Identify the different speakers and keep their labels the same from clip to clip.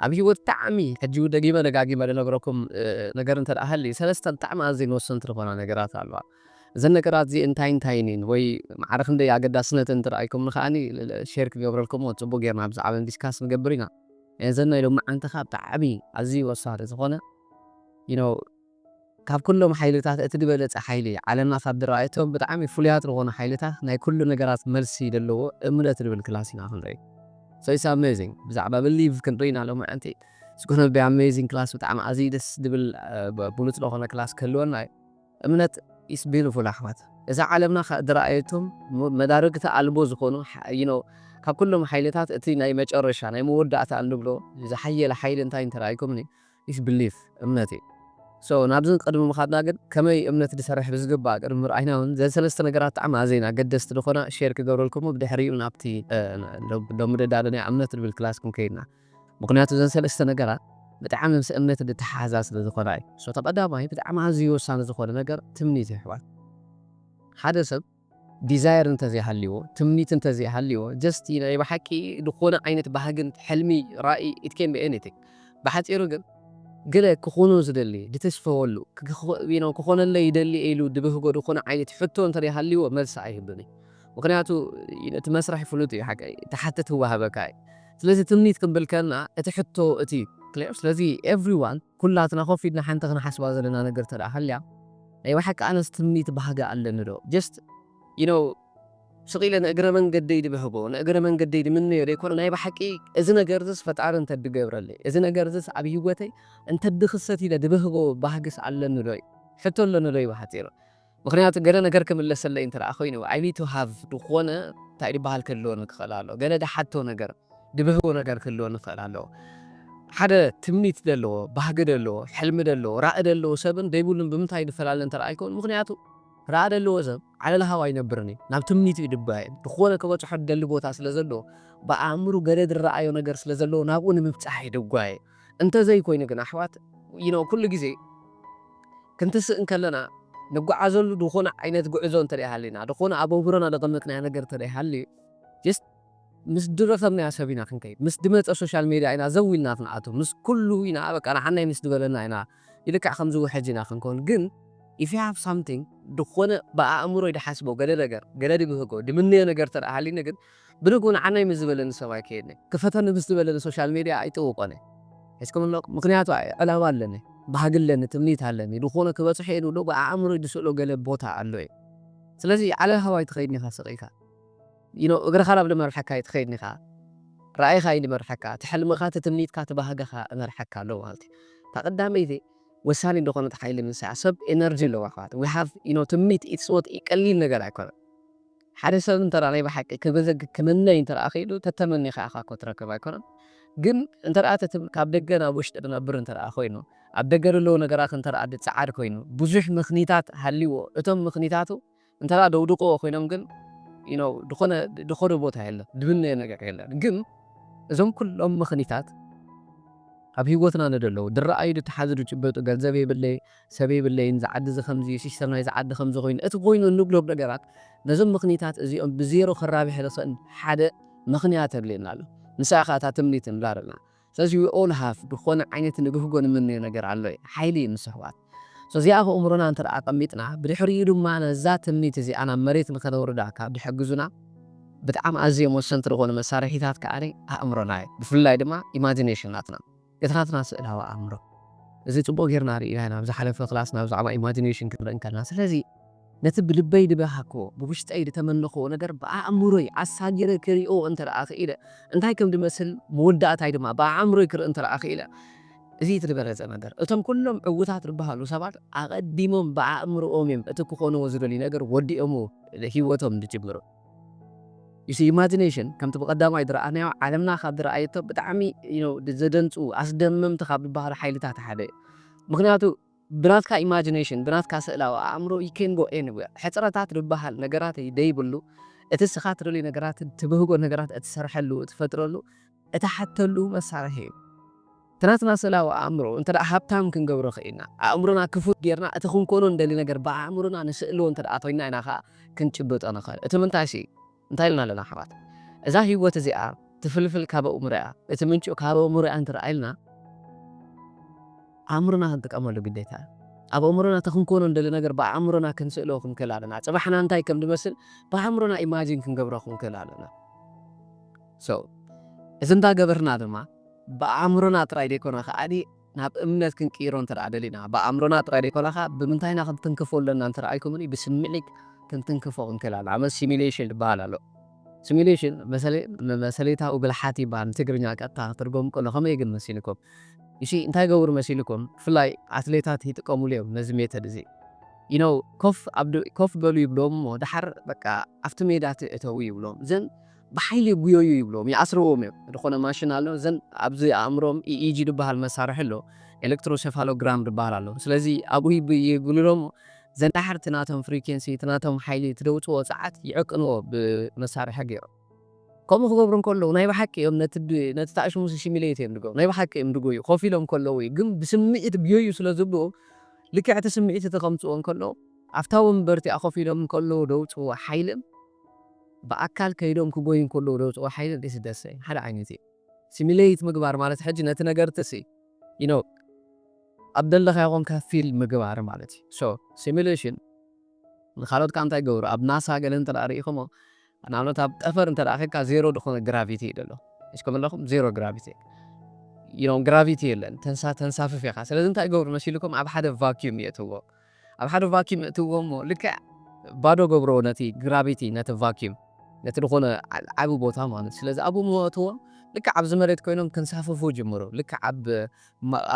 Speaker 1: ኣብ ሂወት ብጣዕሚ ሕጂውን ደጊመ ደጋጊመ ድነግረኩም ነገር እንተ ሃልዩ ሰለስተ ብጣዕሚ ኣዝየን ወሰንቲ ዝኾና ነገራት ኣለዋ። እዘን ነገራት እዚኤን እንታይን እንታይን እየን ወይ ማዕረ ክንደይ ኣገዳስነተን እንተ ርኣይኩምኒ ከኣኒ ሼር ክገብረልኩም እሞ ጽቡቕ ጌርና ብዛዕበን ዲስካስ ንገብር ኢና። እዘን ናይ ሎምዓንቲ ከኣ ብጣዕሚ ኣዝዩ ወሳኒ ዝኾነ you know ካብ ኩሎም ሓይልታት እቲ ድበለጸ ሓይሊ፣ ዓለምና ካብ ድረኣየቶ ብጣዕሚ ፍሉያት ድኾኑ ሓይልታት ናይ ኩሉ ነገራት መልሲ ደለዎ እምነት ድብል ክላስ ኢና ክንርኢ። So it's amazing ብዛዕባ Believe ክንርኢ ኢና ሎምዕንቲ It's gonna be amazing ክላስ ብጣዕሚ ኣዝዩ ደስ ድብል ብሉጽ ደኾነ ክላስ ክህልወና እዩ። እምነት is beautiful ኣሕዋት እዛ ዓለምና ካብ ድረኣየቶም መዳርግቲ ኣልቦ ዝኾኑ you know ካብ ኩሎም ሓይልታት እቲ ናይ መጨረሻ ናይ መወዳእታ እንብሎ ዝሓየለ ሓይሊ እንታይ እንተደኣ ኢልኩምኒ is belief፣ እምነት እዩ። so ናብዚ ንቅድሚ ምኻድና ግን ከመይ እምነት ድሰርሕ ብዝግባእ ቅድሚ ምርኣይና ውን ዘን ሰለስተ ነገራት ጣዕሚ ኣዘየን ኣገደስቲ ድኾና share ክገብረልኩሙ ብድሕሪኡ ናብቲ ሎሚ ደዳሎ ናይ እምነት ድብል ክላስ ክንከይድና ምኽንያቱ ዘን ሰለስተ ነገራት ብጣዕሚ ምስ እምነት ድተሓሓዛ ስለ ዝኾና እዩ። so እቲ ቀዳማይ ብጣዕሚ ኣዝዩ ወሳኒ ዝኾነ ነገር ትምኒት እዩ ኣሕዋት ሓደ ሰብ። ዲዛየር እንተዘይሃልይዎ ትምኒት እንተዘይሃልይዎ ጀስት ናይ ብሓቂ ዝኾነ ዓይነት ባህግን ሕልሚ ራኢ ኢት ኬን ቢ ኤኒቲንግ ብሓጺሩ ግን ገለ ክኹኖ ዝደሊ ድትስፈወሉ ክክ ክኾነለይ ይደሊ ኢሉ ድብህጎ ድኾነ ዓይነት ሕቶ እንተደይሃልይዎ መልሲ ኣይህብን እዩ ምኽንያቱ እቲ መስርሕ ፍሉጥ እዩ ሓቀይ ትሓትት ህወሃበካ እዩ ስለዚ ትምኒት ክንብል ከልና እቲ ሕቶ እቲ እዩ ክሌር ስለዚ ኤቭሪዋን ኩላትና ኮፍ ኢልና ሓንቲ ክንሓስባ ዘለና ነገር እንተደኣ ሃልያ። ናይ ባሓቂ ኣነስ ትምኒት ባህጊ ኣለኒ ዶ ጀስት ዩ ኖው ስቅ ኢለ ንእግረ መንገደይ ድብህጎ ንእግረ መንገደይ ድምነዮ ዶ ኣይኮነን ናይ ባሓቂ እዚ ነገር እዚስ ፈጣሪ እንተ ድገብረለይ እዚ ነገር እዚስ ኣብ ሂወተይ እንተ ድክሰት ኢለ ድብህጎ ባህግስ ኣለኒ ዶ ሕቶ ኣለኒ ዶ ብሓጺሩ ምክንያቱ ገለ ነገር ክምለሰለይ እንተ ኮይኑ ኣይ ኒድ ቱ ሃቭ ድኮነ ታይ ድባሃል ክህልወኒ ክክእል ኣሎ ገለ ድሓቶ ነገር ድብህጎ ነገር ክህልዎ ንክእል ኣሎ ሓደ ትምኒት ደለዎ ባህጊ ደለዎ ሕልሚ ደለዎ ራኢ ደለዎ ሰብን ደይብሉን ብምንታይ ንፈላለ እንተ ኣይኮን ምክንያቱ ራኢ ደለዎ ሰብ ዓለል ሃው ኣይነብርን እዩ ናብ ትምኒቱ እዩ ድባይን ብክወነ ክበጽሖ ድደሊ ቦታ ስለ ዘለዎ ብኣእምሩ ገለ ድራኣዮ ነገር ስለ ዘለዎ ናብኡ ንምብጻሕ እዩ ድጓየ እንተ ዘይኮይኑ ግን ኣሕዋት you know ኩሉ ግዜ ክንትስእ እንከለና ንጓዓዘሉ ድኮነ ዓይነት ጉዕዞ እንተ ሃሊና ድኮነ ኣብ ኣእምሮና ደቀምጥናዮ ነገር እንተ ሃልዩ just ምስ ድረኸብናያ ሰብ ኢና ክንከይድ ምስ ድመጸ ሶሻል ሜድያ ኢና ዘው ኢልና ክንኣቱ ምስ ኩሉ ኢና በቃ ንሓናይ ምስ ድበለና ኢና ልክዕ ከምዚ ውሕጅ ኢና ክንኮን ግን if you have something ድኾነ ብኣእምሮይ ድሓስቦ ገለ ነገር ገለ ድብህጎ ድምነዮ ነገር ተድኣ ሃልዩኒ ግን ብንግኡ ንሓናይ ምስ ዝበለኒ ሰብ ኣይከየድን እየ ክፈተኒ ምስ ድበለኒ ሶሻል ሜድያ ኣይጥውቆን እየ ሒዝኩም ኣለኹም ምኽንያቱ ዕላማ ኣለኒ ባህጊ ኣለኒ ትምኒት ኣለኒ ድኾነ ክበጽሖ እየ ድብሎ ብኣእምሮይ ድስእሎ ገለ ቦታ ኣሎ እየ ስለዚ ዓለል ሃዋይ ትኸይድ ኒኻ ስቅ ኢልካ። እግርኻ ናብ ልመርሓካ እዩ ትኸይድ ኒኻ ራእይኻ እዩ ልመርሓካ እቲ ሕልምኻ እቲ ትምኒትካ እቲ ባህግኻ እመርሓካ ኣሎ ማለት እዩ እታ ቀዳመይቲ ወሳኒት ዝኾነት ሓይሊ ምንሳይ እያ ሰብ ኤነርጂ ኣለዎ ኣሕዋት we have you know ትምኒት ኢትስ ኖት ቀሊል ነገር ኣይኮነን ሓደ ሰብ እንተ ናይ ብሓቂ ክብህግ ክምነይ እንተ ክኢሉ ተተመኒኻ ኢኻ እኮ ትረክብ ኣይኮነን ግን እንተ እቲ ትም ካብ ደገ ናብ ውሽጢ ዝነብር እንተ ኮይኑ ኣብ ደገ ዘለዉ ነገራት እንተ ዝጸዓድ ኮይኑ ብዙሕ ምኽኒታት ሃልይዎ እቶም ምኽኒታቱ እንተ ደውድቆዎ ኮይኖም ግን ድኾነ ድኾነ ቦታ የለን ድብነዮ ነገር የለን ግን እዞም ኩሎም ምኽኒታት ኣብ ሂወትና ንደለዉ ድረኣዩ ድተሓዙ ድጭበጡ ገንዘብ የብለይ ሰብ የብለይን እዚ ዓዲ እዚ ከምዚ እዩ ሲስተም ናይዚ ዓዲ ከምዚ ኮይኑ እቲ ኮይኑ እንብሎም ነገራት ነዞም ምኽኒታት እዚኦም ብዜሮ ከራብሕ ዝኽእል ሓደ ምኽንያት የድልየና ኣሎ ንሳ እያ ከኣ እታ ትምኒት ንብላ ደለና ስለዚ we all have ዝኾነ ዓይነት ንብህጎ ንምነዮ ነገር ኣሎ እዩ። ሓይሊ እዩ ንሱ ኣሕዋት። so እዚኣ ኣብ ኣእምሮና እንተ ኣቀሚጥና ብድሕሪኡ ድማ ነዛ ትምኒት እዚኣ ናብ መሬት ንኸነውርዳ ካብ ድሕግዙና ብጣዕሚ ኣዝዮም ወሰንቲ ዝኾኑ መሳርሒታት ከኣ ኣእምሮና እዩ። ብፍላይ ድማ imagination ናትና። ገትራትና ስእላዊ ኣእምሮ። እዚ ጽቡቅ ጌርና ርኢና ኢና ኣብ ዝሓለፈ ክላስና ብዛዕባ imagination ክንርኢ ከለና። ስለዚ። ነቲ ብልበይ ድበሃግክዎ፣ ብውሽጠይ ድተመነኽዎ ነገር ብኣእምሮይ ኣሳጊረ ክሪኦ እንተ ደኣ ክኢለ፣ እንታይ ከም ድመስል፣ መወዳእታይ ድማ ብኣእምሮይ ክርኢ እንተ ደኣ ክኢለ፣ እዚ እቲ ድበለጸ ነገር። እቶም ኩሎም ዕዉታት ድበሃሉ ሰባት ኣቐዲሞም ብኣእምሮኦም እዮም እቲ ክኾንዎ ዝደልዩ ነገር ወዲኦምዎ ህይወቶም ድጅምሩ። You see፣ Imagination ከምቲ ብቐዳማይ ድረኣናዮ ዓለምና ካብ ድረኣየቶ ብጣዕሚ you know ዘደንጹ፣ ኣስደመምቲ ካብ ድበሃሉ ሓይልታት ሓደ እዩ። ምኽንያቱ፣ ብናትካ ኢማጂነሽን ብናትካ ስእላዊ ኣእምሮ ዩ ኬን ጎ ኤኒዌር ሕጽረታት ድበሃል ነገራት ደይብሉ እቲ እስኻ ትደልዩ ነገራት ትብህጎ ነገራት እትሰርሐሉ እትፈጥረሉ እትሓተሉ መሳርሒ ዩ እቲ ናትና ስእላዊ ኣእምሮ እንተ ሃብታም ክንገብሮ ክኢልና ኣእምሮና ክፉት ጌርና እቲ ክንኮኖ ንደሊ ነገር ብኣእምሮና ንስእሎ እንተ ኮይና ኢና ከኣ ክንጭብጦ ንኽእል እቲ ምንታይ ሲ እንታይ ኢልና ኣለና ኣሕዋት እዛ ሂወት እዚኣ ትፍልፍል ካብ ኣእምሮ'ያ እቲ ምንጩ ካብ ኣእምሮ'ያ እንተ ኢልና ኣእምሮና ክንጥቀመሉ ግዴታ እዩ ኣብ ኣእምሮና እቲ ክንኮኖ እንደሊ ነገር ብኣእምሮና ክንስእሎ ክንክእል ኣለና ጽባሕና እንታይ ከም ድመስል ብኣእምሮና ኢማጂን ክንገብሮ ክንክእል ኣለና so እዚ እንዳ ገበርና ድማ ብኣእምሮና ጥራይ ደይኮና ከኣ ናብ እምነት ክንቅይሮ እንተ ደሊና፣ ብኣእምሮና ጥራይ ደይኰነኻ ብምንታይ ኢና ክንትንክፎ ዘሎና እንተ ረኣይኩምኒ፣ ብስምዒት ክንትንክፎ ክንክእል ኣሎና። ንኣብነት ሲሙሌሽን ዝበሃል ኣሎ። ሲሙሌሽን መሰልታዊ ብልሓት ይበሃል፣ ንትግርኛ ቀጥታ ክትርጐም ከሎ ከመይ ግን መሲልኩም? እሺ እንታይ ይገብሩ መሲልኩም? ብፍላይ ኣትሌታት ይጥቀሙሉ እዮም ነዚ ሜተድ እዚ። You know፣ ኮፍ በሉ ይብሎም እሞ ደሓር በቃ ኣብቲ ሜዳ ትእተዉ ይብሎም። ብሓይሊ ጉዮዩ ይብልዎም ይኣስርዎም እዮም ድኾነ ማሽን ኣሎ ዘን ኣብዚ ኣእምሮኦም EEG ድበሃል መሳርሒ ኣሎ ኤለክትሮሸፋሎግራም ድበሃል ኣሎ ስለዚ ኣብኡ ይግልሎሞ ዘንዳሕር እቲ ናቶም ፍሪኬንሲ እቲ ናቶም ሓይሊ እቲ ደውጽዎ ጸዓት ይዕቅንዎ ብመሳርሒ ጌሮም ከምኡ ክገብሩ እንከለዉ ናይ ብሓቂ እዮም ነቲ ነቲ ታእሽሙስ ሽሚሌት እዮም ድገብሩ ናይ ብሓቂ እዮም ድጎዩ ኮፍ ኢሎም ከለዉ እዩ ግን ብስሚዒት ግዮዩ ስለ ዝብልዎ ልክዕ እቲ ስሚዒት እቲ ከምጽዎ እንከለዉ ኣብታ ወንበር እቲኣ ኮፍ ኢሎም እንከለዉ ደውጽዎ ሓይልን ብኣካል ከይዶም ክጎዩ እንከለዉ ዘውጽእዎ ሓይሊ እንድዒ ስደትሲ ሓደ ዓይነት እዩ። ሲሚለይት ምግባር ማለት ሕጂ ነቲ ነገር'ቲ ሲ ዩ ኖው ኣብ ደለኻዮ ኮንካ ፊል ምግባር ማለት እዩ። ሶ ሲሚለሽን ንኻልኦት ከኣ እንታይ ይገብሩ ኣብ ናሳ ገለ እንተ ርኢኹሞ ንኣብነት ኣብ ጠፈር እንተ ኬድካ ዜሮ ድኾነ ግራቪቲ እዩ ደሎ ሒዝኩም ኣለኹም ዜሮ ግራቪቲ ዩ ኖው ግራቪቲ የለን ተንሳ ተንሳፍፍ ኢኻ ስለዚ እንታይ ይገብሩ መሲልኩም ኣብ ሓደ ቫክዩም የእትውዎ። ኣብ ሓደ ቫክዩም እእትውዎ እሞ ልክዕ ባዶ እገብሮ ነቲ ግራቪቲ ነቲ ቫክዩም ነቲ ዝኾነ ዓቢ ቦታ ማለት እዩ ስለዚ ኣብኡ እሞ እእትዎም ልክዕ ኣብዚ መሬት ኮይኖም ክንሳፈፉ ይጅምሩ ልክዕ ኣብ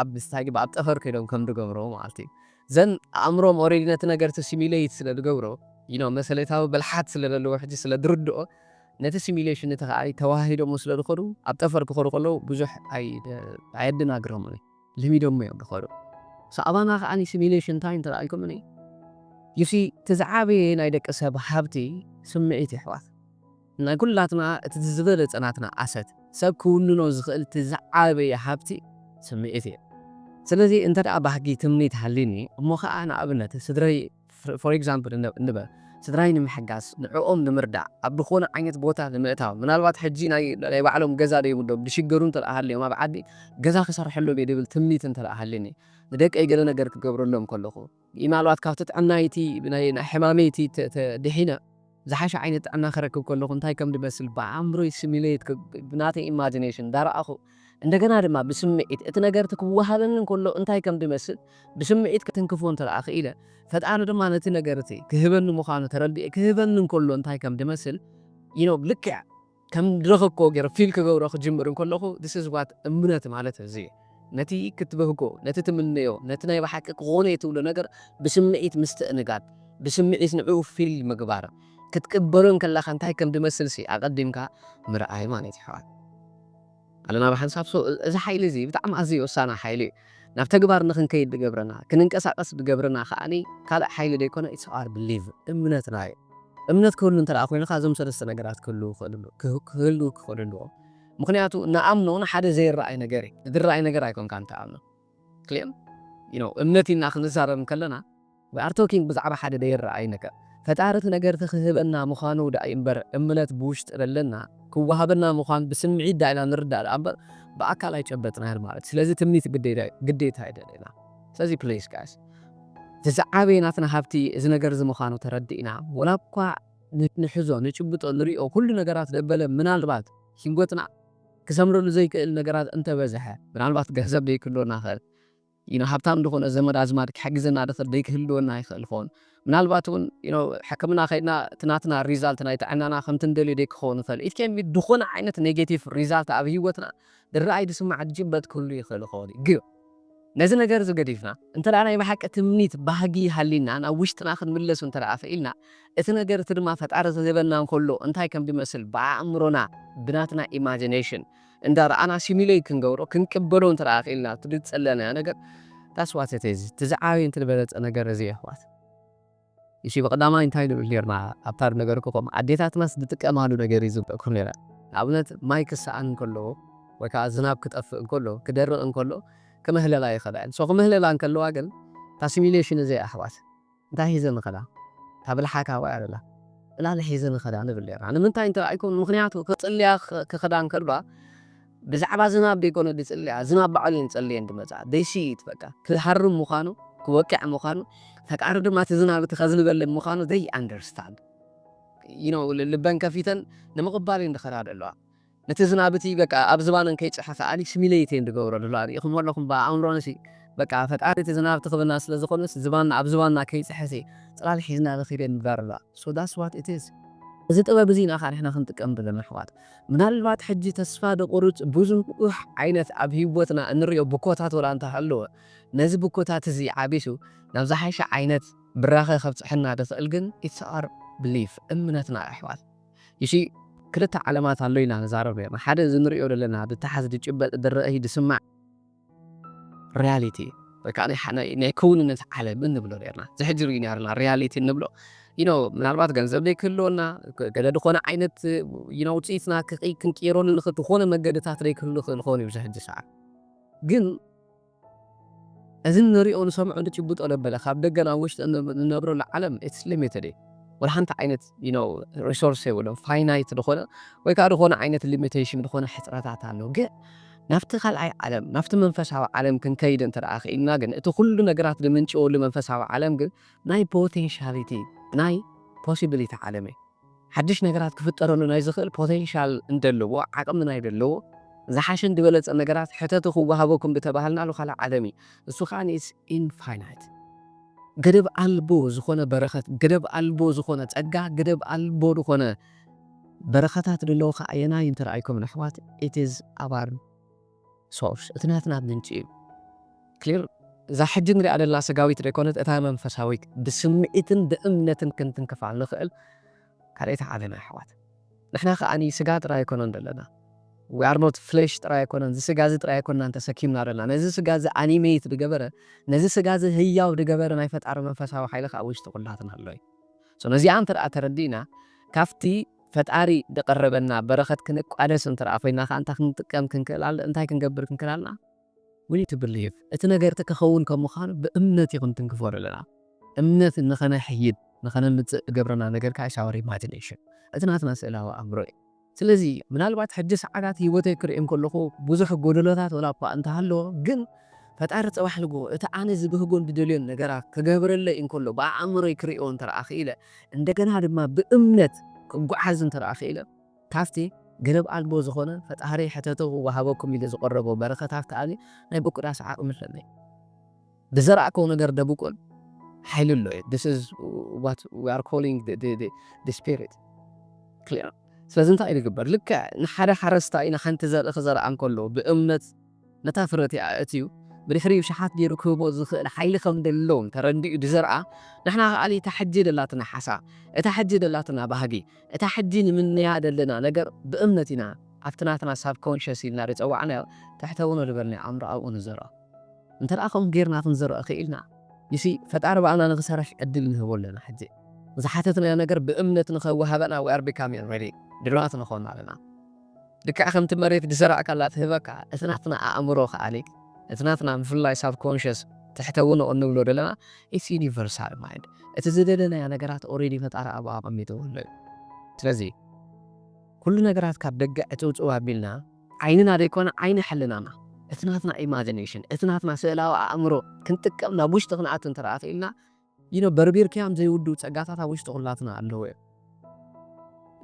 Speaker 1: ኣብ ስታይ ድዩ ኣብ ጠፈር ከይዶም ከም ድገብሮ ማለት እዩ ዘን ኣእምሮኦም ኦሬዲ ነቲ ነገር እቲ ሲሚለይት ስለ ድገብሮ you know መሰሌታዊ ብልሓት ስለ ደለዎ ሕጂ ስለ ድርድኦ ነቲ ሲሚሌሽን እቲ ከኣ ተዋሃሂዶሞ ስለ ድኸዱ ኣብ ጠፈር ክኸዱ ከለዉ ብዙሕ ኣይ ኣየደናግሮምን እዩ። ለሚዶሞ እዮም ድኸዱ ሳኣባና ካኣ ሲሚሌሽን ታይ እንተኣልኩምኒ you see እቲ ዝዓበየ ናይ ደቂ ሰብ ሃብቲ ስምዒት የሕዋት ናይ ኩላትና እቲ ዝበለጸ ናትና ኣሰት ሰብ ክውንኖ ዝኽእል እቲ ዝዓበየ ሃብቲ ስምዒት እዩ ስለዚ እንተ ባህጊ ትምኒት ሃልዩኒ እሞ ካኣ ንኣብነት ስድረይ ፎር ኤግዛምፕል ንበል ስድራይ ንምሕጋዝ፣ ንዕኦም ንምርዳእ፣ ኣብ ብኮነ ዓይነት ቦታ ንምእታው፣ ምናልባት ሕጂ ናይ ባዕሎም ገዛ ዘይብሎም ዝሽገሩ እንተድኣ ሃልዮም ኣብ ዓዲ ገዛ ክሰርሐሎም እየ ዝብል ትምኒት እንተድኣ ሃልዩኒ፣ ንደቀይ ገለ ነገር ክገብረሎም ከለኹ፣ ምናልባት ካብቲ ጥዕናይ እቲ ናይ ሕማመይ እቲ ድሒነ፣ ዝሓሸ ዓይነት ጥዕና ክረክብ ከለኹ እንታይ ከም ዝመስል ብኣእምሮይ ሲሙሌት ክብል፣ ብናተይ ኢማጂነሽን እንዳረኣኹ፣ እንደገና ድማ ብስምዒት እቲ ነገር'ቲ ክወሃበኒ እንከሎ እንታይ ከም ዝመስል ብስምዒት ክትንክፎ እንተደኣ ክኢለ፣ ፈጣሪ ድማ ነቲ ነገር'ቲ ክህበኒ ምዃኑ ተረዲኤ ክህበኒ እንከሎ እንታይ ከም ዝመስል you know ልክዕ ከም ዝረኸብክዎ ገይረ ፊል ክገብሮ ክጅምር እንከለኹ this is what እምነት ማለት እዚ እዩ። ነቲ ክትብህጎ፣ ነቲ ትምነዮ፣ ነቲ ናይ ብሓቂ ክኾን እየ ትብሎ ነገር ብስምዒት ምስትእንጋድ፣ ብስምዒት ንዕኡ ፊል ምግባር፣ ክትቅበሎ እንከለኻ እንታይ ከም ዝመስልሲ ኣቐዲምካ ምርኣይ ማለት እዩ ኣሕዋት። ኣለና ብሓንሳብ so እዚ ሓይሊ እዚ ብጣዕሚ ኣዝዩ ወሳኒ ሓይሊ እዩ ናብ ተግባር ንክንከይድ ድገብረና ክንንቀሳቀስ ድገብረና ከኣ ካልእ ሓይሊ ደይኮነ it's our believe እምነትና እዩ እምነት ክህሉ እንተ ኮይንካ እዞም ሰለስተ ነገራት ክህልው ክህልው ክክእሉ ኣለዎም ምክንያቱ ንኣምኖ ንሓደ ዘይረኣይ ነገር እዩ ዝረኣይ ነገር ኣይኮንካን ትኣምኖ ክሌም ዩ ኖው እምነት ኢልና ክንዛረብ እንከለና ዊ ኣር ቶኪንግ ብዛዕባ ሓደ ደይረኣይ ነገር ፈጣሪ እቲ ነገር እቲ ክህበና ምዃኑ ደኣ እዩምበር እምነት ብውሽጢ ደለና ክወሃበና ምዃን ብስምዒት ደኣ ኢና ንርዳእ ደኣ እምበር ብኣካል ኣይጨበጥናዮን ማለት እዩ ስለዚ ትምኒት ግዴታ እዩ ደለና ስለዚ ፕሊስ ጋይስ እቲ ዝዓበየ ናትና ሃብቲ እዚ ነገር እዚ ምዃኑ ተረዲእና ወላ እኳ ንሕዞ ንጭብጦ ንሪኦ ኩሉ ነገራት ደበለ ምናልባት ሂወትና ክሰምረሉ ዘይክእል ነገራት እንተ በዝሐ፣ ምናልባት ገንዘብ ደይክህልወና ይኸእል እዩ፣ ሃብታም ድኾነ ዘመድ ኣዝማድ ክሕግዘና ድኽእል ደይክህልወና ይኸእል ይኸውን፣ ምናልባት እውን ሕክምና ከይድና እቲ ናትና ሪዛልት ናይ ጥዕናና ከምቲ ንደልዮ ደይክኸውን ይኸእል፣ ኢት ኬን ቢ ድኾነ ዓይነት ኔጌቲቭ ሪዛልት ኣብ ህይወትና ድረኣይ ድስማዕ ድጭበጥ ክህሉ ይኸእል ይኸውን እዩ። ነዚ ነገር እዚ ገዲፍና፣ እንተ ደኣ ናይ ብሓቂ ትምኒት፣ ባህጊ፣ ሃልዩና ናብ ውሽጥና ክንምለሱ እንተ ደኣ ክኢልና፣ እቲ ነገር እቲ ድማ ፈጣሪ ክህበና እንከሎ እንታይ ከም ዝመስል ብኣእምሮና፣ ብናትና ኢማጂነሽን፣ እንዳ ረኣና ሲሙለይት ክንገብሮ፣ ክንቅበሎ እንተ ደኣ ክኢልና፣ እቲ ዝጸለናዮ ነገር That's what it is፣ እቲ ዝዓበየን እቲ ዝበለጸ ነገር እዚ እዩ ኣሕዋት። እሺ ብቀዳማይ እንታይ ንብል ኔርና ኣብታ ዝነገርኩኹም ኣዴታትናስ ዝጥቀማሉ ነገር እዩ ዝብለኩም ኔረ ንኣብነት ማይ ክሰኣን እንከሎ ወይ ከኣ ዝናብ ክጠፍእ እንከሎ ክደርቅ እንከሎ ክምህለላ ይኽእላ እየን ሶ ክምህለላ እንከለዋ ግን እታ ሲሚሌሽን እዚኣ ኣሕዋት እንታይ ሒዘን ንኸዳ እታ ብልሓታ ወይ ኣደላ ዕላል ሒዘን ንኸዳ ንብል ኔርና ንምንታይ እንተባኢልኩም ምኽንያቱ ክጽልያ ክኽዳ እንከልዋ ብዛዕባ ዝናብ ደይኮነ ድጽልያ ዝናብ ባዕሉ እየን ጸልየን ድመጻ ደይሲ ኢት በቃ ክሃርም ምዃኑ ክወቅዕ ምዃኑ ፈጣሪ ድማ እቲ ዝናብ እቲ ከዝንበለን ምዃኑ they understand you know ልበን ከፊተን ንምቕባል እየን ድኸዳ ደለዋ ነቲ ዝናብ እቲ በቃ ኣብ ዝባነን ከይጨሐ ከኣ simulate እየን ድገብሮ ደለዋ ሪኢኹሞ ኣለኹም ብኣእምሮንሲ በቃ ፈጣሪ እቲ ዝናብ እቲ ክብና ስለ ዝኾነስ ዝባንና ኣብ ዝባንና ከይጸሐሲ ጽላል ሒዝና ንኺድ እየን ድብላ ደለዋ so that's what it is እዚ ጥበብ እዚ ኢና ከኣ ንሕና ክንጥቀም ደለና ኣሕዋት። ምናልባት ሕጂ ተስፋ ዘቑርጽ ብዙሕ ዓይነት ኣብ ህይወትና እንርእዮ ብኮታት ወላ እንተ ሃለወ፣ ነዚ ብኮታት እዚ ዓቢሱ ናብ ዝሓሸ ዓይነት ብራኸ ከብጽሐና ዝኽእል ግን it's our belief፣ እምነትና እዩ ኣሕዋት። You see ክልተ ዓለማት ኣሎ ኢልና ንዛረብ ኔርና፣ ሓደ እዚ ንርእዮ ዘለና ዝታሓዝ ዝጭበጥ ዝረኣይ ዝስማዕ፣ ርያሊቲ ወይ ከኣ ናይ ሓ ናይ ክውንነት ዓለም እንብሎ ኔርና። እዚ ሕጂ ርኢና ኣለና ርያሊቲ እንብሎ you know ምናልባት ገንዘብ ዘይክህልወና ግ ገለ ዝኾነ ዓይነት you know ውጽኢትና ክቅ ክንቅይረሉ ንኽእል ዝኾነ መንገድታት ዘይክህሉ ይኽእል ይኸውን እዩ ኣብዚ ሕጂ ሰዓት ግን እዚ እንርእዮ ንሰምዖ ንጭብጦ ዘበለ ካብ ደገ ናብ ውሽጢ እን እንነብረሉ ዓለም it's limited እዩ ወላ ሓንቲ ዓይነት you know resource የብሎም finite ዝኾነ ወይ ከዓ ዝኾነ ዓይነት limitation ዝኾነ ሕፅረታት ኣሎ ግን ናብቲ ካልኣይ ዓለም ናብቲ መንፈሳዊ ዓለም ክንከይድ እንተ ደኣ ክኢልና ግን እቲ ኩሉ ነገራት ዝምንጭወሉ መንፈሳዊ ዓለም ግን ናይ ፖቴንሻሊቲ ናይ ፖሲቢሊቲ ዓለም እዩ ሓድሽ ነገራት ክፍጠረሉ ናይ ዝኽእል ፖቴንሻል እንደለዎ ዓቕሚ ናይ ዘለዎ ዝሓሸን ዝበለጸ ነገራት ሕተቱ ክወሃበኩም ብተባሃልናሉ ካልእ ዓለም እዩ እሱ ከዓ ኢንፋይናይት ገደብ ኣልቦ ዝኾነ በረኸት፣ ገደብ ኣልቦ ዝኾነ ጸጋ፣ ገደብ ኣልቦ ዝኾነ በረኸታት ደለዉኻ ኣየናይ እንተ ረኣይኩም ነሕዋት it is our source እቲ ናትና ምንጪ እዩ clear እዛ ሕጂ ንሪኣ ዘለና ስጋዊት ደይኮነት እታ መንፈሳዊት ብስምዒትን ብእምነትን ክንትንክፋ ንኽእል። ካልኣይቲ ዓለም ኣሕዋት ንሕና ከኣ ስጋ ጥራይ ኣይኮነን ደለና we are not flesh ጥራይ ኣይኮነን እዚ ስጋ እዚ ጥራይ ኣይኮናን ተሰኪምና ደለና ነዚ ስጋ እዚ ኣኒመይት ድገበረ ነዚ ስጋ እዚ ህያው ድገበረ ናይ ፈጣሪ መንፈሳዊ ሓይሊ ከኣ ኣብ ውሽጢ ኩላትና ኣሎ እዩ so ነዚኣ እንተ ተረዲእና ካብቲ ፈጣሪ ድቀረበና በረከት ክንቋደስ እንተ ኮይና ከኣ እንታይ ክንጥቀም ክንክእል እንታይ ክንገብር ክንክእል ኣለና We to believe እቲ ነገር እቲ ከኸውን ከም ምዃኑ ብእምነት እዩ ክንትንክፎ ዘለና። እምነት ንኸነሕይል ንኸነምጽእ ዝገብረና ነገር ከኣ is our imagination እቲ ናትና ስእላዊ ኣእምሮ እዩ። ስለዚ ምናልባት ሕጂ ሰዓታት ህይወተይ ክርኢ እንከለኹ ብዙሕ ጎደሎታት ወላ'ኳ እንተሃለዎ ግን ፈጣሪ ጸባሕንጎ እቲ ኣነ ዝብህጎን ዝደልዮን ነገራት ክገብረለይ እንከሎ ብኣእምሮይ ክርእዮ እንተደኣ ክኢለ እንደገና ድማ ብእምነት ክጓዓዝ እንተደኣ ክኢለ ካብቲ ገደብ ኣልቦ ዝኾነ ፈጣሪ ሕተቱ ክወሃበኩም ኢሉ ዝቐረቦ በረከት ሃብቲ ኣበይ ናይ ምቁዳስ ዓቕሚ ኣለኒ ብዘራእክዎ ነገር ደብቁል ሓይሊ ኣሎ እዩ this is what we are calling the the the the spirit clear ስለዚ እንታይ እዩ ዝግበር ልክዕ ንሓደ ሓረስታይ ንሓንቲ ዘርኢ ክዘርኣ እንከሎ ብእምነት ነታ ፍረ እቲኣ ኣእትዩ ብድሕሪኡ ሸሓት ጌሩ ክህቦ ዝኽእል ሓይሊ ከም ደሎ እንተ ረዲኡ ድዘርኣ ንሕና ከኣ እታ ሕጂ ደላትና ሓሳ እታ ሕጂ ደላትና ባህጊ እታ ሕጂ ንምነያ ደለና ነገር ብእምነት ኢና ኣብቲ ናትና ሳብኮንሸስ ኢልና ድጸዋዕናዮ ትሕተውኖ ድበልናዮ ኣእምሮ ኣብኡ ንዘርኦ። እንተ ከምኡ ጌርና ክንዘርኦ ክኢልና you see ፈጣሪ ብኣና ንኽሰርሕ ዕድል ንህቦ ኣለና ሕጂ ዝሓተትናዮ ነገር ብእምነት ንኸዋህበና we are becoming ready ድሉዋት ንኾን ኣለና። ልክዕ ከምቲ መሬት ዝዘራእካላ ትህበካ፣ እቲ ናትና ኣእምሮ ከኣ፣ እቲ ናትና ብፍላይ ሳብኮንሸስ፣ ትሕተውንኦ እንብሎ ዘለና፣ ኢትስ ዩኒቨርሳል ማይንድ፣ እቲ ዝደለናዮ ነገራት ኦሬዲ ፈጣሪ ኣብኡ ኣቐሚጥዎ'ሎ እዩ። ስለዚ ኩሉ ነገራት ካብ ደገ ዕጽውጽው ኣቢልና፣ ዓይንና ዘይኮነ ዓይኒ ሕልናና፣ እቲ ናትና ኢማጂነሽን፣ እቲ ናትና ስእላዊ ኣእምሮ ክንጥቀም ናብ ውሽጢ ክንኣቱ እንተደኣ ክኢልና፣ you know በርቢርካዮም ዘይውድኡ ጸጋታት ኣብ ውሽጢ ኩላትና ኣለዉ እዮም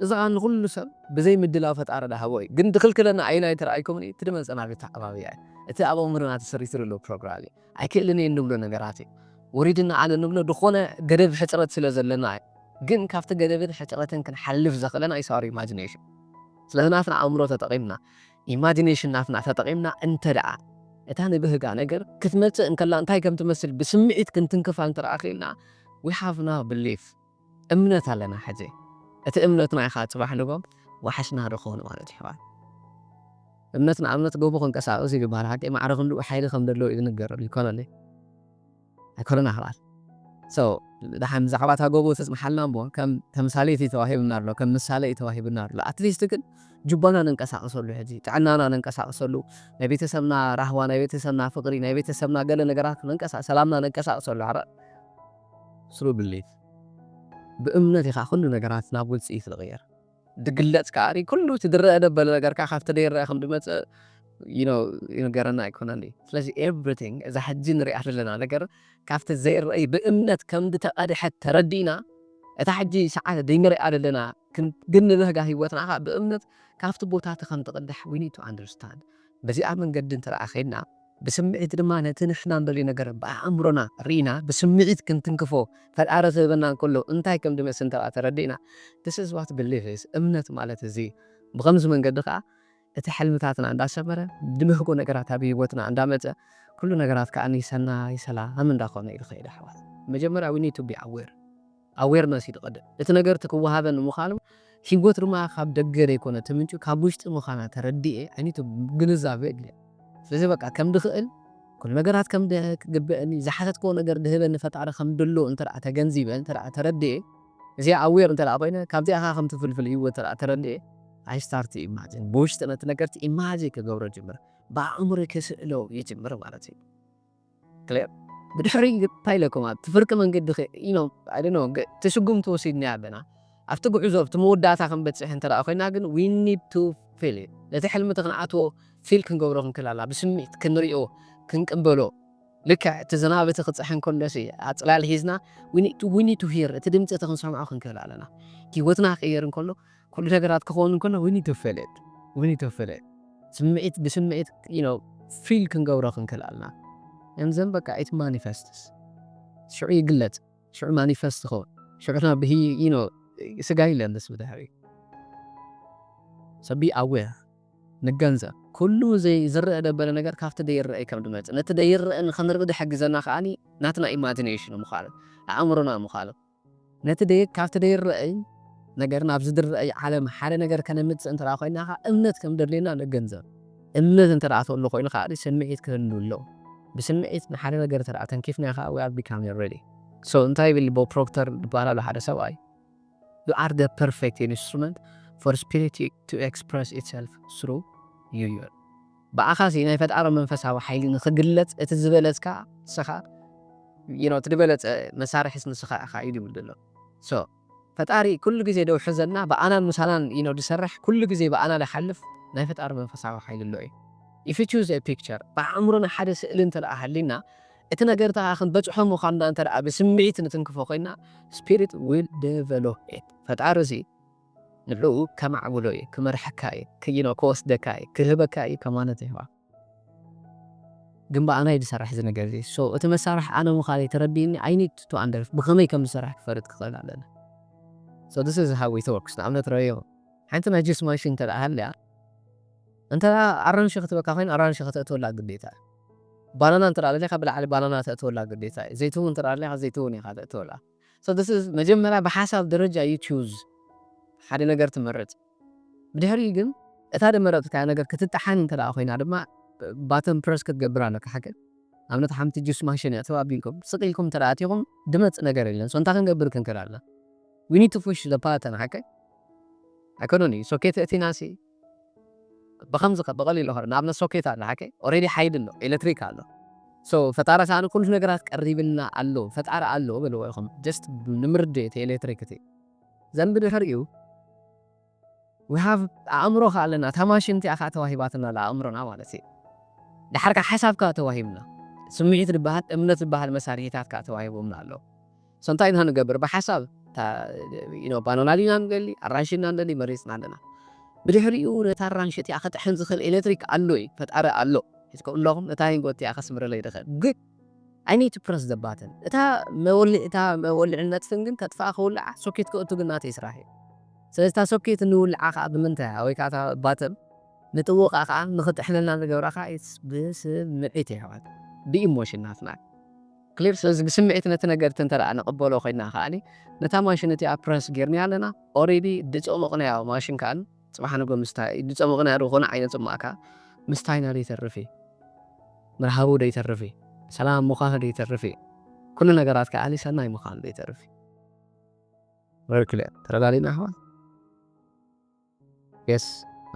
Speaker 1: እዚ ከኣ ንኩሉ ሰብ ብዘይ ምድላው ፈጣሪ ድሃቦ እዩ ግን ድክልክለና ኣየናይ ተራኣይኩምኒ እቲ ድመጸና ብተዓባብያ እዩ እቲ ኣብ ኣእምሮና ተሰሪቱ ድሎ ፕሮግራም እዩ ኣይክእልን እየ እንብሎ ነገራት እዩ ወሪድና ኣነ ንብሎ ድኮነ ገደብ ሕጽረት ስለ ዘለና እዩ ግን ካብቲ ገደብን ሕጽረትን ክንሓልፍ ዘክእለና ኢስ ኣወር ኢማጂነሽን ስለዚ ናትና ኣእምሮ ተጠቂምና ኢማጂነሽን ናትና ተጠቒምና እንተድኣ እታ ንብህጋ ነገር ክትመጽእ እንከላ እንታይ ከም ትመስል ብስምዒት ክንትንክፋ እንተድኣ ክኢልና we have now belief እምነት ኣለና ሕጂ እቲ እምነትና ኢኻ ጽባሕ ንጎም ዋሕስና ድኾን ማለት እዩ ሕዋት። እምነት ንኣብነት ጎቦ ክንቀሳቐስ እዩ ድበሃል ሓቀይ ማዕረ ክንድኡ ሓይሊ ከም ደለዎ እዩ ዝንገር ይኮነለይ። ኣይኮነን ኣሕዋት so ደሓን ብዛዕባ እታ ጎቦ ተጽንሓልና እሞ ከም ተምሳሌት እዩ ተዋሂቡና ኣሎ ከም ምሳሌ እዩ ተዋሂቡና ኣሎ at least ግን ጁባና ነንቀሳቅሰሉ ሕጂ ጥዕናና ነንቀሳቅሰሉ ናይ ቤተሰብና ራህዋ ናይ ቤተሰብና ፍቅሪ ናይ ቤተሰብና ገለ ነገራት ነንቀሳ ሰላምና ነንቀሳቅሰሉ ኣረ through belief ብእምነት ኢኻ ኩሉ ነገራት ናብ ውጽኢት ዝቅየር። ድግለጽ ከኣ ኩሉ እቲ ድረኣ ደበለ ነገር ከኣ ካብቲ ደይረኣ ከም ድመጸ ይንገረና ኣይኮነን ድዩ ስለዚ ኤቭሪቲንግ እዛ ሕጂ ንሪኣ ዘለና ነገር ካብቲ ዘይረኣይ ብእምነት ከም ድተቀድሐት ተረዲእና እታ ሕጂ ሰዓት ድይንሪኣ ደለና ክንድንብህጋ ሂወትና ከኣ ብእምነት ካብቲ ቦታ እቲ ከም ትቅዳሕ we need to understand በዚኣ መንገዲ እንተ ከይድና ብስምዒት ድማ ነቲ ንሕና እንደልዮ ነገር ብኣእምሮና ርኢና ብስምዒት ክንትንክፎ ፈጣሪ ክህበና እንከሎ እንታይ ከም ዝመስል እንተድኣ ተረዲእና This is what belief is እምነት ማለት እዚ እዩ ብኸምዚ መንገዲ ከኣ እቲ ሕልምታትና እንዳሰመረ ድብህጎ ነገራት ኣብ ሂወትና እንዳመጸ ኩሉ ነገራት ከኣ ሰናይ ሰላም እንዳኾነ እዩ ዝኸይድ ኣሕዋት መጀመርያ we need to be aware። Awareness፣ እዩ ዝቐድም። እቲ ነገር እቲ ክወሃበኒ ምዃኑ፣ ህይወት ድማ ካብ ደገ ዘይኮነ ትምንጩ ካብ ውሽጢ ምዃና ተረዲኤ፣ I need to፣ ግንዛበ የድልያ። ስለዚ በቃ ከም ድኽእል፣ ኩሉ ነገራት ከም ክግበእኒ፣ ዝሓተትክዎ ነገር ድህበኒ ፈጣሪ ከም ድሎ እንተ ተገንዚበ፣ እንተ ተረዲኤ፣ እዚኣ Aware እንተ ኮይነ፣ ካብዚኣ ከኣ ከም ትፍልፍል ህይወት እንተ ተረዲኤ፣ I start to imagine፣ ብውሽጢ ነቲ ነገር'ቲ Imagine ክገብሮ ይጅምር፣ ብኣእምሮይ ክስእሎ ይጅምር ማለት እዩ። ክሌር ብድሕሪ እንታይ ኢለኩም ኣብቲ ፍርቂ መንገዲ ኢሎም ኣይ ዶንት ኖው ግን እቲ ስጉምቲ ወሲድናዮ ኣለና ኣብቲ ጉዕዞ ኣብቲ መወዳእታ ክንበጽሕ እንተ ኮይና ግን ዊ ኒድ ቱ ፊል ኢት ነቲ ሕልሚ እቲ ክንኣትዎ ፊል ክንገብሮ ክንክል ኣለና ብስምዒት ክንሪኦ ክንቅበሎ ልክዕ እቲ ዝናብ እቲ ክጽሕን ከሎሲ ኣጽላል ሒዝና ዊ ኒድ ቱ ሂር እቲ ድምጺ እቲ ክንሰምዖ ክንክል ኣለና ሂወትና ክቕየር እንከሎ ኩሉ ነገራት ክኸውን እንከሎ we need to feel it we need to feel it ስምዒት ብስምዒት you know feel ክንገብሮ ክንክእል ኣለና and then በቃ it manifests ሽዑ ይግለጽ ሽዑ manifest ይኸውን ሽዑ ናብ ብሂ you know ስጋ ይለልስ ብድሕሪ so be aware ንገንዘብ ኩሉ ዝረአ ደበለ ነገር ካብቲ ደይረአ ከም ድመፅእ ነቲ ደይረአ ንክንርኢ ድሕግዘና ከዓኒ ናትና ኢማጂኔሽን ምዃኑ ኣእምሮና ምዃኑ ነቲ ደይ ካብቲ ደይረኣይ ነገር ናብ ዝድረኣይ ዓለም ሓደ ነገር ከነምጽእ እንተደኣ ኮይና ከኣ እምነት ከም ዘድልየና ንገንዘብ። እምነት እንተደኣ ተሎ ኮይኑ ከኣ ስምዒት ክህሉ ኣለዎ። ብስምዒት ንሓደ ነገር እንተደኣ ተንኪፍናዮ ከኣ we are becoming ready። So እንታይ ይብል ቦብ ፕሮክተር ዝበሃል ኣሎ ሓደ ሰብኣይ you are the perfect instrument for spirit to express itself through you ይብል። ብኣኻሲ ናይ ፈጣሪ መንፈሳዊ ሓይሊ ንኽግለጽ እቲ ዝበለጽካ ንስኻ you know እቲ ድበለጸ መሳርሒስ ንስኻ ኢኻ እዩ ድብል ደሎ so ፈጣሪ ኩሉ ግዜ ደውሕዘልና ብኣናን ምሳናን you know ድሰርሕ ኩሉ ግዜ ብኣና ድሓልፍ ናይ ፈጣሪ መንፈሳዊ ሓይሊ ኣሎ እዩ if you choose a picture ብኣእምሮና ሓደ ስእሊ እንተ ሃልይና እቲ ነገር እታ ክንበጽሖ ምዃንና እንተ ብስምዒት ንትንክፎ ኮይና spirit will develop it ፈጣሪ እዚ ንዕኡ ከማዕብሎ እዩ፣ ክመርሓካ እዩ፣ ክይኖ ክወስደካ እዩ፣ ክህበካ እዩ ከማለት ይህባ። ግን ብኣና እዩ ዝሰራሕ እዚ ነገር እዚ። so እቲ መሳርሒ ኣነ ምዃነይ ተረዲእኒ i need to under ብኸመይ ከም ዝሰራሕ ክፈልጥ ክኽእል ኣለኒ። so this is how it works ንኣብነት ረኣዮ ሓንቲ ናይ ጁስ ማሽን እንተ ሃልያ እንተ ኣራንሺ ክትበካ ኮይና ኣራንሺ ከተእትወላ ግዴታ እዩ። ባናና እንተ ደሊኻ ብላዕሊ ባናና ተእትወላ ግዴታ እዩ። ዘይትሁን እንተ ደሊኻ ዘይትሁን ኢኻ ተእትወላ። So this is መጀመርያ ብሓሳብ ደረጃ you choose ሓደ ነገር ትመርጽ ብድሕሪኡ ግን እታ ደመረጽካያ ነገር ክትጠሓን እንተ ኮይና ድማ button press ክትገብር ኣለካ ሓቂ ኣብነት ሓንቲ juice machine እያ ትባብ ኢልኩም ስቅ ኢልኩም እንተ ኣቲኹም ድመጽ ነገር የለን so እንታይ ክንገብር ክንክል ኣለና we need to push the button ሓቂ ኣይኮነን እዩ so ከይተእቲናሲ ብከምዚ ከ ብቀሊሉ ከ ንኣብነት ሶኬት ኣሎ ሓቂ ኦሬዲ ሓይሊ ኣሎ ኤለትሪክ ኣሎ so ፈጣሪ ከኣ ንኩሉ ነገራት ቀሪብልና ኣሎ ፈጣሪ ኣሎ በልዎ ኢኩም just ንምርድእ እቲ ኤለትሪክ እቲ ዘንቢ ድሕር እዩ we have ኣእምሮ ከ ኣለና እታ ማሽን እቲኣ ከኣ ተዋሂባትና ኣላ ኣእምሮና ማለት እዩ ደሓር ከ ሓሳብ ከ ተዋሂብና ስሚዒት ድበሃል እምነት ድበሃል መሳሪሒታት ከ ተዋሂቦምና ኣሎ። So እንታይ ኢና ንገብር ብሓሳብ እታ ባኖናል ኢና ንደሊ ኣራንሺ እና ንደሊ መሪጽና ኣለና ብድሕሪኡ ነታ ኣራንሺ እቲኣ ክጥሕን ዝኽእል ኤለትሪክ ኣሎ እዩ ፈጣሪ ኣሎ ሒዝኩም ኣለኹም ነታ ሂንጎ እቲኣ ከስምረለይ ድኽእል ግን I need to press the button እታ መወልዒ እታ መወልዒ ነጥፍን ግን ከጥፍኣ ክውልዓ ሶኬት ክእቱ ግን ናተይ ስራሕ እዩ ስለዚ እታ ሶኬት ንውልዓ ከኣ ብምንታይ እያ ወይ ከኣ እታ ባተን ንጥውቓ ከኣ ንኽጥሕነልና ንገብራ ከኣ it's ብስምዒት እዩ ኣሕዋት ብኢሞሽን ናትና እዩ Clear ስለዚ ብስምዒት ነቲ ነገርት እንተደኣ ንቕበሎ ኮይና ከኣ ነታ ማሽን እቲኣ Press ጌርንያ ኣለና Already ድጾ ምቕንያው ማሽን ከኣ ጽባሕ ንግሆ ምስ ታይ ድጾ ምቕንያው ዝኾነ ዓይነት ጽሟቕ ከኣ ምስ ታይና ደይተርፍ እዩ ምርሃቡ ደይተርፍ እዩ ሰላም ምዃኑ ደይተርፍ እዩ ኩሉ ነገራት ከኣ ሰናይ ምዃኑ ደይተርፍ እዩ። Very clear ተረዳዲእና ኣሕዋት? የስ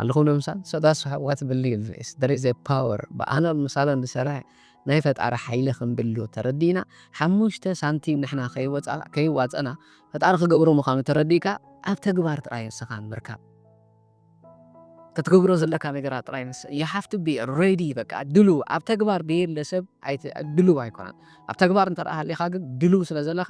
Speaker 1: ኣለኹም ንምሳል ሰዳ ስሓዋት ብሊቭ ኢስ ደር ኢዘ ፓወር ብኣናን ምሳናን ዝሰርሕ ናይ ፈጣሪ ሓይሊ ከምድሉ ተረዲእና ሓሙሽተ ሳንቲም ንሕና ከይወፃ ከይዋፀና ፈጣሪ ክገብሮ ምዃኑ ተረዲእካ ኣብ ተግባር ጥራይ ንስኻ ምርካብ ክትገብሮ ዘለካ ነገራት ጥራይ ንስ ዩ ሃቭ ቱ ቢ ሬዲ በቃ ድሉው ኣብ ተግባር ደየለ ሰብ ኣይት ድሉው ኣይኮነን ኣብ ተግባር እንተ ሃሊኻ ግን ድሉው ስለ ዘለኻ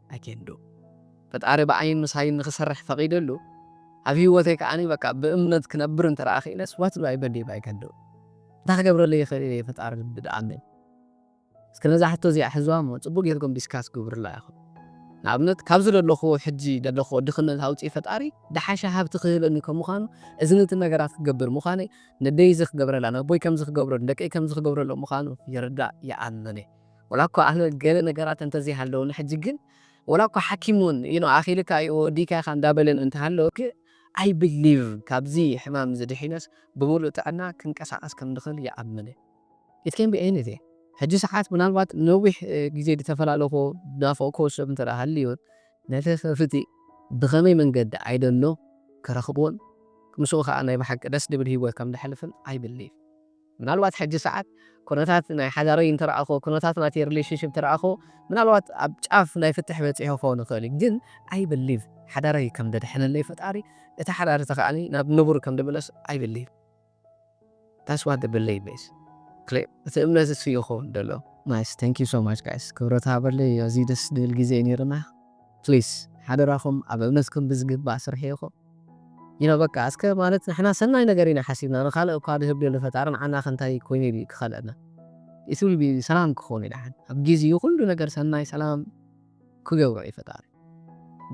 Speaker 1: ኣገንዶ። ፈጣሪ ብኣይን ምሳይን ንክሰርሕ ፈቂደሉ ኣብ ሂወተይ ከኣ በቃ ብእምነት ክነብር እንተ ክኢለስ what do i believe i can do እንታይ ክገብረለይ ይክእል እየ ፈጣሪ ልቢ ደኣለይ እስከ ነዛ ሕቶ እዚኣ ሕዝዋ እሞ ጽቡቅ ጌርኩም ዲስካስ ግብሩላ ኢኩም ንኣብነት ካብዚ ዘለኩዎ ሕጂ ዘለኩዎ ድክነት ኣውጺ ፈጣሪ ደሓሸ ሃብቲ ክህበኒ ከም ምኳኑ እዝን እትን ነገራት ክገብር ምኳነይ ነደይ እዚ ክገብረላ ነኣቦይ ከምዚ ክገብረሉ ንደቀይ ከምዚ ክገብረሎም ምኳኑ ይርዳእ ይኣምን እየ። ወላ እኳ ኣነ ገለ ነገራት እንተ ዘይሃለዉኒ ሕጂ ግን ወላ እኳ ሓኪም ውን you know ኣኺልካ እዩ ወዲእካ ኢኻ እንዳበለን እንተ ሃለወ ግን i believe ካብዚ ሕማም እዚ ድሒነስ ብምሉእ ጥዕና ክንቀሳቐስ ከም ድኽእል ይኣምን እየ it can be anything ሕጂ ሰዓት ምናልባት ንነዊሕ ግዜ ድተፈላለኹዎ ድናፈቕኩዎ ሰብ እንተ ሃልዩ ነቲ ክፍቲ ብኸመይ መንገዲ i don't know ክረኽቦን ምስኡ ከኣ ናይ ብሓቂ ደስ ድብል ሂወት ከም ደሕልፍን i believe። ምናልባት ሕጂ ሰዓት ኩነታት ናይ ሓዳረይ እንተረኣኹዎ ኩነታት ናተይ ሪሌሽንሺፕ እንተረኣኹዎ ምናልባት ኣብ ጫፍ ናይ ፍትሕ በጺሑ ክኸውን ይኽእል እዩ ግን ኣይ ብሊቭ ሓዳረይ ከም ደድሕነለይ ፈጣሪ እቲ ሓዳር እቲ ከኣ ናብ ንቡር ከም ድምለስ ኣይ ብሊቭ ዳትስ ዋት ዘ ብሊቭ ኢዝ ክሊር እቲ እምነት እሱ እዩ ክኸውን ደሎ። ናይስ ታንክ ዩ ሶ ማች ጋይስ ክብረት ሃበለይ ኣዝዩ ደስ ድብል ግዜ ዩ ኔሩና ፕሊስ ሓደራኹም ኣብ እምነትኩም ብዝግባእ ስርሕይኹም። ኢና በቃ እስከ ማለት ንሕና ሰናይ ነገር ኢና ሓሲብና ንካልእ እኳ ድህብ ደሎ ፈጣሪ ንዓናከ እንታይ ኮይኑ ድዩ ክከልኣና። It will be ሰላም ክከውን እዩ ደሓን ኣብ ጊዚኡ ኩሉ ነገር ሰናይ ሰላም ክገብሮ እዩ ፈጣሪ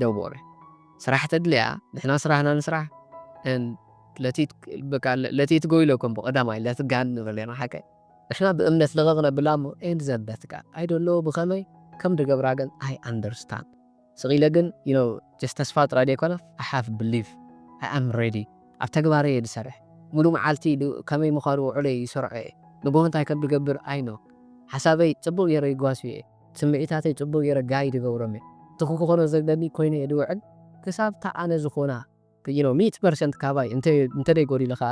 Speaker 1: ደንቦረ ስራሕ ተድልያ ንሕና ስራህና ንስራሕ and let it በቃ let it go ኢለኩም ብቀዳማይ let ጋን ንብል ኢና ሓቀይ ንሕና ብእምነት ልቕቕ ነብላ እሞ and ዘንበትካ I don't know ብከመይ ከም ድገብራ ግን I understand። ስቅ ኢለ ግን you know just ተስፋ ጥራይ ደይኮነ I have belief I am ready ኣብ ተግባር እየ ዝሰርሕ ሙሉእ መዓልቲ ን ከመይ ምኳኑ ውዕሎይ ይሰርዖ እየ ንግሆ እንታይ ከም ድገብር I know ሓሳበይ ጽቡቅ ገይረ ይጓስዮ እየ ስምዒታተይ ጽቡቅ ገይረ guide ይገብሮም እየ እቲ ክኮኖ ዘለኒ ኮይኑ እየ ድውዕል ክሳብ እታ ኣነ ዝኮና you know ሚእቲ ፐርሰንት ካባይ እንተ እንተደይ ጎዲሉ ከኣ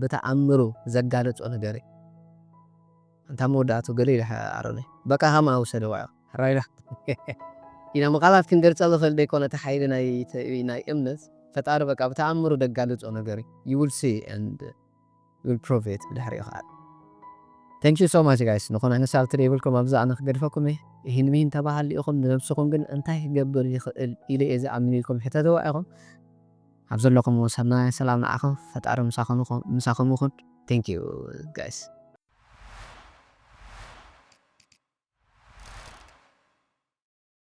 Speaker 1: ብተኣምሩ ዘጋለጾ ነገር እዩ ኣንታ መወዳእትኡ ገለ ኢሉ ኣሮነይ በቃ ሃማኣ ውሰደ ዋዕሮ ራይዳ ኢና ምቃላት ክንገልጸሉ ንክእል ደይኮነ እቲ ሓይሊ ናይ እምነት ፈጣሪ በቃ ብተኣምሩ ደጋልጾ ነገር እዩ you will see and you will prove it ብድሕሪኡ ክኣ Thank you so much guys ንኩን ዓይነት ሳልት ደይብልኩም ኣብዛ ኣነ ክገድፈኩም እየ ኢሂን ሚሂን ተባሃሊ ኢኩም ንነብስኩም ግን እንታይ ክገብር ይክእል ኢለ እየ ዝኣምን ኢልኩም ሕተትዋ ኢኩም ኣብ ዘለኩምዎ ሰናይ ሰላም ንዓኩም ፈጣሪ ምሳኩም ይኩን thank you guys።